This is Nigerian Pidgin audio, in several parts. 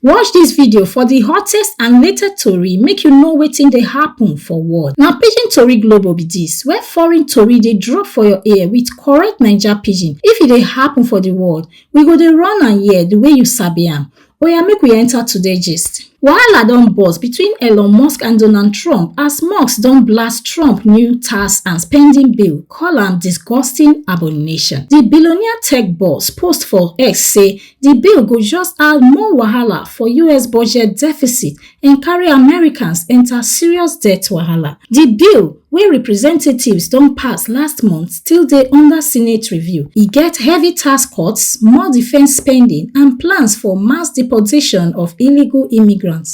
Watch dis video for di hottest and latest tori make you know wetin dey happen for world. Na Pidgin Tori Global be dis, where foreign tori dey drop for your ear with correct Naija Pidgin. If e dey happen for di world, we go dey run am here di way you sabi am. Oya make we enter today gist. Wahala don burst between Elon Musk and Donald Trump as Musk don blast Trump new tax and spending bill, call am disgusting abomination. Di billionaire tech boss post for X say Di bill go just add more wahala for us budget deficit and carry Americans enta serious debt wahala. Di bill, wey representatives don pass last month, still dey under Senate review. E get heavy tax cuts, more defence spending and plans for mass deportation of illegal immigrants.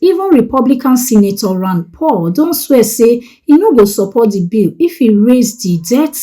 Even Republican Senator Rand Paul don swear say e no go support di bill if e raise di debt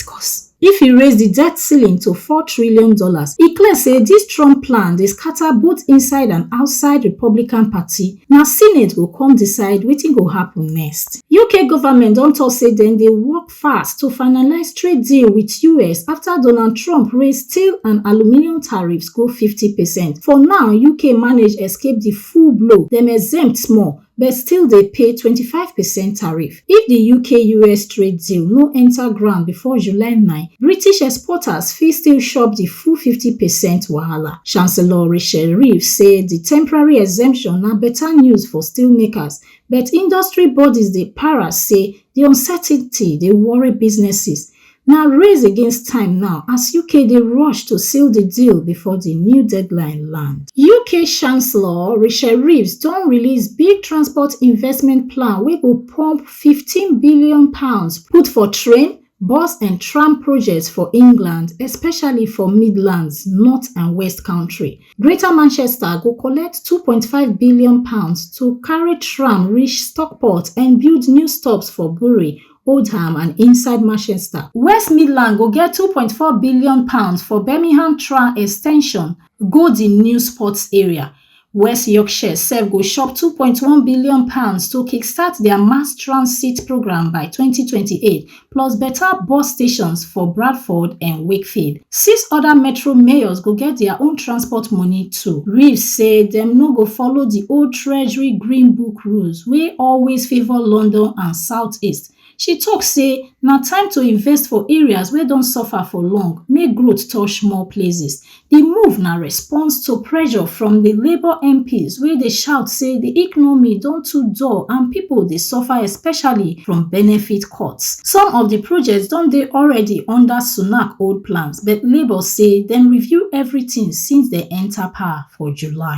if e raise di debt ceiling to four trillion dollars. E clear say dis Trump plan dey scatter both inside and outside Republican party, na Senate go come decide wetin go happun next. UK government don tok say dem dey work fast to finalise trade deal wit us afta Donald Trump raise steel and aluminium tariffs go fifty percent. For now, UK manage escape di full blow, dem exempt small but still dey pay twenty five percent tariff. If di UK-US trade deal no enta ground before July nine, British exporters fit still chop di full fifty percent wahala. Chancellor Rachel Reeves say di temporary exemption na beta news for steelmakers, but industry bodies dey para say Di uncertainty dey worry businesses, na race against time now as UK dey rush to seal di deal before di new deadline land. UK Chancellor Rishi Reeves don release big transport investment plan wey go pump fifteen billion pounds put for train, bus and tram projects for England, especially for Midlands, North and West Country. Greater Manchester go collect two point five billion pounds to carry tram reach Stockport and build new stops for Bury, Oldham and inside Manchester. West Midland go get two point four billion pounds for Birmingham tram extension go di new sports area. West Yorkshire sef go chop two point one billion pounds to kickstart dia mass transit programme by twenty twenty eight plus beta bus stations for bradford and wakefield six oda metro mayors go get dia own transport money too reeves say dem no go follow di old treasury green book rules wey always favour london and southeast she tok say na time to invest for areas wey don suffer for long make growth touch more places Di move na response to pressure from di Labour MPs wey dey shout say di economy don too dull and pipo dey suffer especially from benefit cuts. Some of di projects don dey already under Sunak old plans but Labour say dem review everything since dem enta power for July.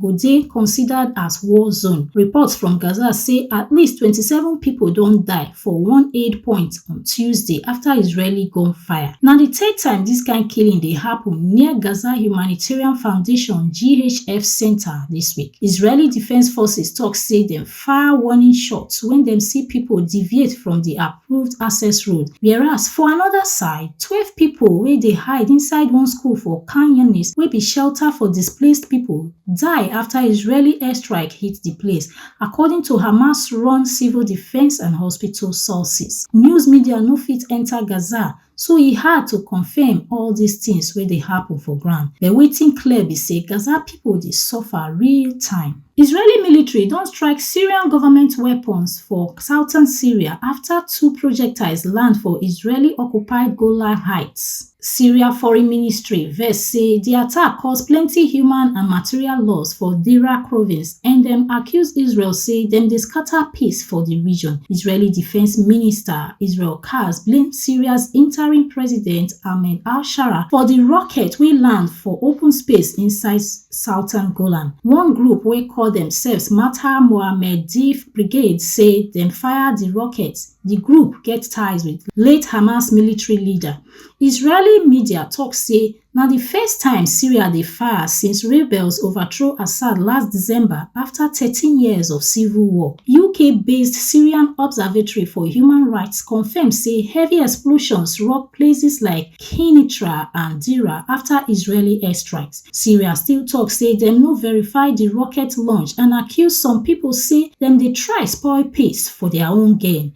go dey considered as war zone. Reports from Gaza say at least 27 pipo don die for one aid point on Tuesday afta Israeli gunfire. Na di third time dis kain killing dey happun near Gaza Humanitarian Foundation, GHF, centre dis week. Israeli Defence Forces tok say dem fire warning shots wen dem see pipo deviate from di approved access road whereas for anoda side twelve pipo wey dey hide inside one school for khan younis wey be shelter for displaced pipo die afta israeli airstrike hit di place according to hamas-run civil defence and hospital sources. News media no fit enta Gaza So e hard to confirm all dis tins wey dey happun for ground, but wetin clear be say Gaza pipo dey suffer real time. Israeli military don strike Syrian government weapons for southern Syria afta two projectiles land for Israeli-occupied Golan Heights. Syria foreign ministry vex say di attack cause plenty human and material loss for Deraa province and dem accuse Israel say dem dey scata peace for di region. Israeli defence minister Israel Kaz blame Syria's interim president Ahmed al-Sharaa for di rocket wey land for open space inside southern Golan. One group wey call demsefs Matar Mohammedeev Brigade say dem fire di rocket, di group get ties wit late Hamas military leader. Israeli media tok say Na di first time Syria dey fire since rebels overthrow Assad last December afta thirteen years of civil war. UK-based Syrian Observatory for Human Rights confirm say heavy explosions rock places like Kenitra and Deraa afta Israeli airstrikes. Syria still tok say dem no verify di rocket launch and accuse some pipo say dem dey try spoil peace for dia own gain.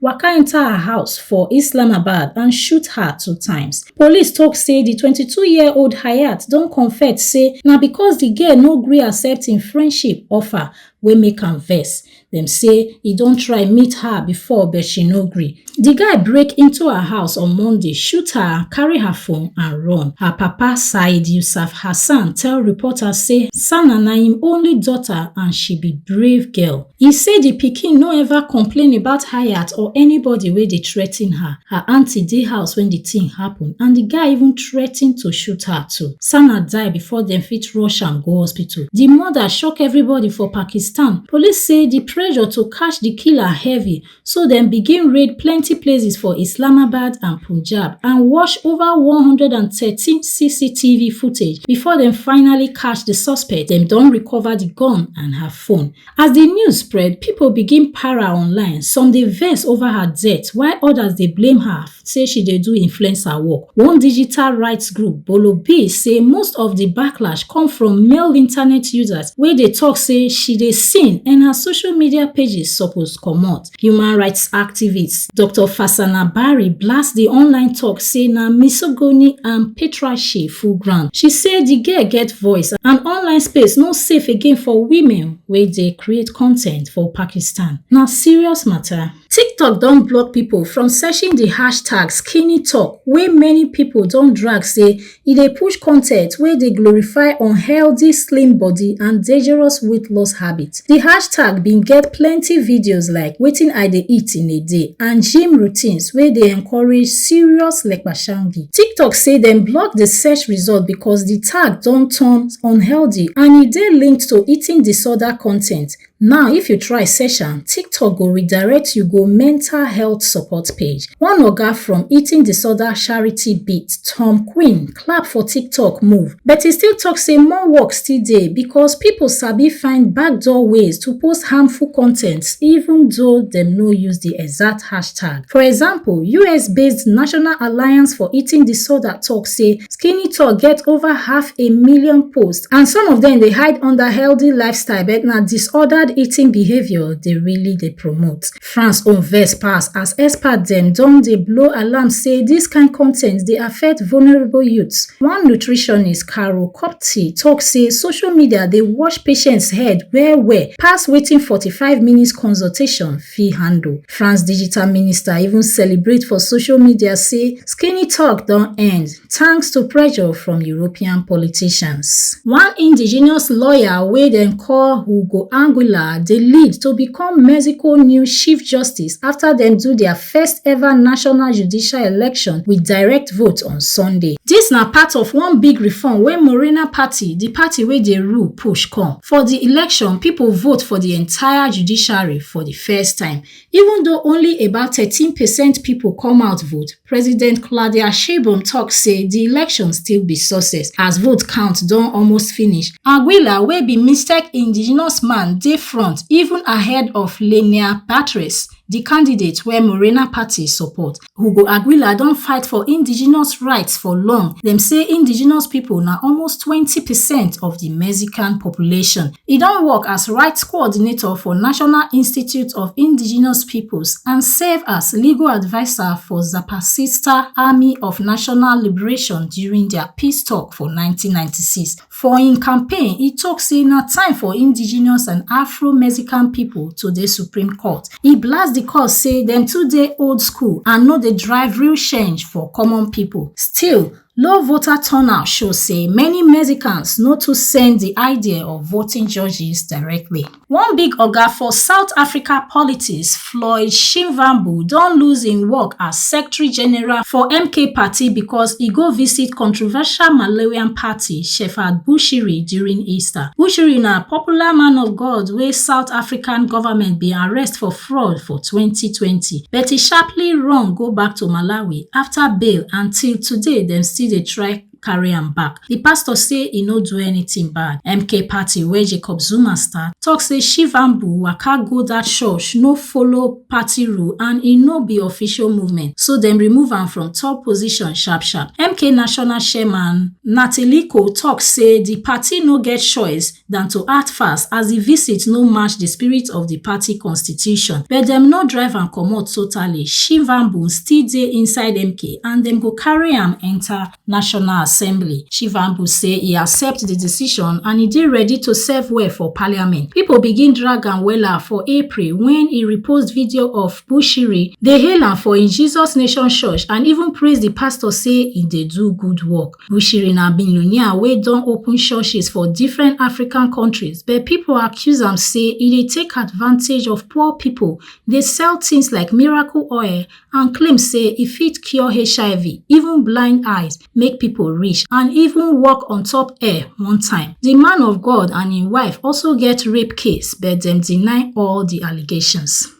waka enta her house for islamabad and shoot her two times police tok say di twenty two year old hayat don confet say na becos di girl no gree accept im friendship offer wey make am vex dem say e don try meet her before but she no gree di guy break into her house on monday shoot her carry her phone and run her papa said yusuf hassan tell reporters say sana na im only daughter and she be brave girl e say di pikin no ever complain about hayat or anybody wey dey threa ten her her aunty dey house wen di tin happun and di guy even threa ten to shoot her too sanat die bifor dem fit rush am go hospital di murder shock everybody for pakistan police say di pressure to catch di killer heavy So dem begin raid plenty places for Islamabad and Punjab and watch over 113 CCTV footage before dem finally catch the suspect. Dem don recover the gun and her phone. As the news spread, people begin para online. Some dey vex over her death while others dey blame her say she dey do influencer work. One digital rights group, Bolobi, say most of di backlash come from male internet users wey dey tok say she dey sin and her social media pages suppose comot. Human rights activist Doctor Fasanah Barry blast di online tok say na misogony and patriarchy full ground. She say di girl get voice and online space no safe again for women wey dey create con ten t for Pakistan. Na serious mata. tiktok don block pipo from searching di hashtag skinnytalk wey many pipo don drag say e dey push con ten t wey dey glorify unhealthy slim body and dangerous weight loss habits. Di hashtag bin get plenty videos like wetin I dey eat in a day and gym routines wey dey encourage serious lekpashangi. Tiktok say dem block di search result because di tag don turn unhealthy and e dey linked to eating disorder con ten t Now, if you try search am, TikTok go redirect you go mental health support page. One oga from Eating Disorder Charity Beat, Tom Quinn, clap for TikTok move, but he still talk say more work still dey because people sabi find backdoor ways to post harmful content even though dem no use the exact hashtag. For example, US-based National Alliance for Eating Disorder talk say Skinny Talk get over half a million posts and some of them dey hide under healthy lifestyle but na disordered eating behaviour dey really dey promote. France own vex pass as experts dem don dey blow alarm say this kind con ten t dey affect vulnerable youths. One nutritionist, Carol Kopty, talk say social media dey wash patients head well well pass wetin 45 minutes consultation fit handle. France digital minister even celebrate for social media say skinny talk don end thanks to pressure from European politicians. One indigenous lawyer wey dem call Hugo Anguilla dey lead to become Mexico new chief justice after dem do their first ever national judicial election with direct vote on Sunday. Dis na part of one big reform wey Morena party, di party wey dey rule, push come. For di election, pipo vote for di entire judiciary for di first time, even though only about thirteen percent pipo come out vote, President Claudia Sheinbaum tok say di election still be success as vote count don almost finish. Anguilla wey be Mixtec indigenous man dey front even ahead of Lenia Batres, di candidate wey Morena party support. Hugo Aguila don fight for indigenous rights for long. Dem say indigenous people na almost 20 percent of the Mexican population. E don work as rights coordinator for National Institute of Indigenous Peoples and serve as legal adviser for Zapatista Army of National Liberation during their peace talk for 1996. for im campaign e tok say na time for indigenous and afro-mexican pipo to dey supreme court e blast di court say dem too dey old school and no dey drive real change for common pipo still low voter turnout show say many mexicans no too send di idea of voting judges directly One big oga for South Africa politics, Floyd Shivambu, don lose im work as secretary general for MK party because e go visit controversial Malawian party Shepherd Bushiri during Easter. Bushiri na popular man of God wey South African government bin arrest for fraud for 2020, but e sharply run go back to Malawi after bail and till today dem still dey try carry am back di pastor say e no do anytin bad mk party wey jacob zuma start tok say shivambu waka go dat church no follow party rule and e no be official movement so dem remove am from top position sharp sharp mk national chairman natiliko tok say di party no get choice dan to act fast as di visit no match di spirit of di party constitution but dem no drive am comot totally shivambu still dey inside mk and dem go carry am enta national assembly shivambu say e accept di decision and e dey ready to serve well for parliament pipo begin drag am wella for april wen e repost video of bushiri dey hail am for im jesus nation church and even praise di pastor say e dey do good work bushiri na billionaire wey don open churches for different african kontris but pipo accuse am say e dey take advantage of poor pipo dey sell tins like miracle oil and claim say e fit cure hiv even blind eyes make pipo rich and even work on top air one time di man of god and im wife also get rape case but dem deny all di allegations.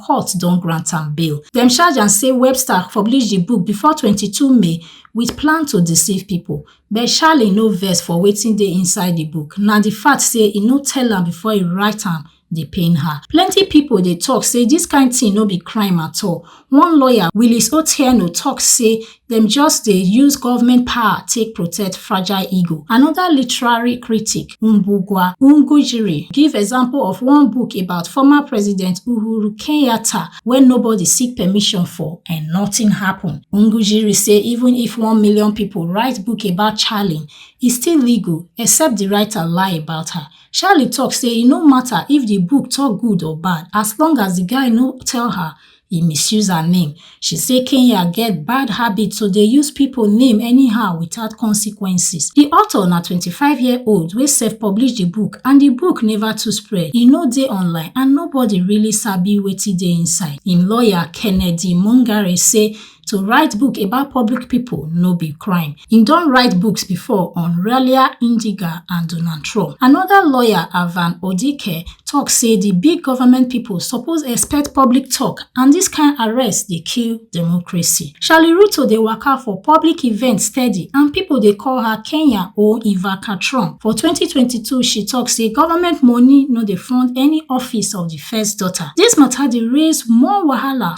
court don grant am bail. Dem charge am say Webster publish di book before 22 May wit plan to deceive pipo, but Charlie no vex for wetin dey inside di book, na di fact say e no tell am before e write am dey pain her. Plenty pipo dey tok say dis kain tin no be crime at all. One lawyer, Willis Otieno tok say dem just dey use government power take protect fragile ego. Another literary critic, Mbugwa Ungujiri, give example of one book about former President Uhuru Kenyatta wey nobody seek permission for and nothing happen. Ungujiri say even if one million people write book about Charlie, e still legal except the writer lie about her. Charlie talk say e no matter if the book talk good or bad as long as the guy no tell her e misuse her name she say kenya get bad habit to dey use pipo name anyhow without consequences di author na twenty five year old wey sef publish di book and di book neva too spread e no dey online and nobody really sabi wetin dey inside im lawyer kennedy mungare say To write book about public people no be crime. He don write books before on Ralia Indiga and Donald Trump. Another lawyer, Avan Odike, talk say the big government people suppose expect public talk and this kind arrest dey kill democracy. Charlie Ruto dey waka for public events steady and people dey call her Kenya or Ivanka Trump. For 2022, she talk say government money no dey fund any office of the first daughter. This matter dey raise more wahala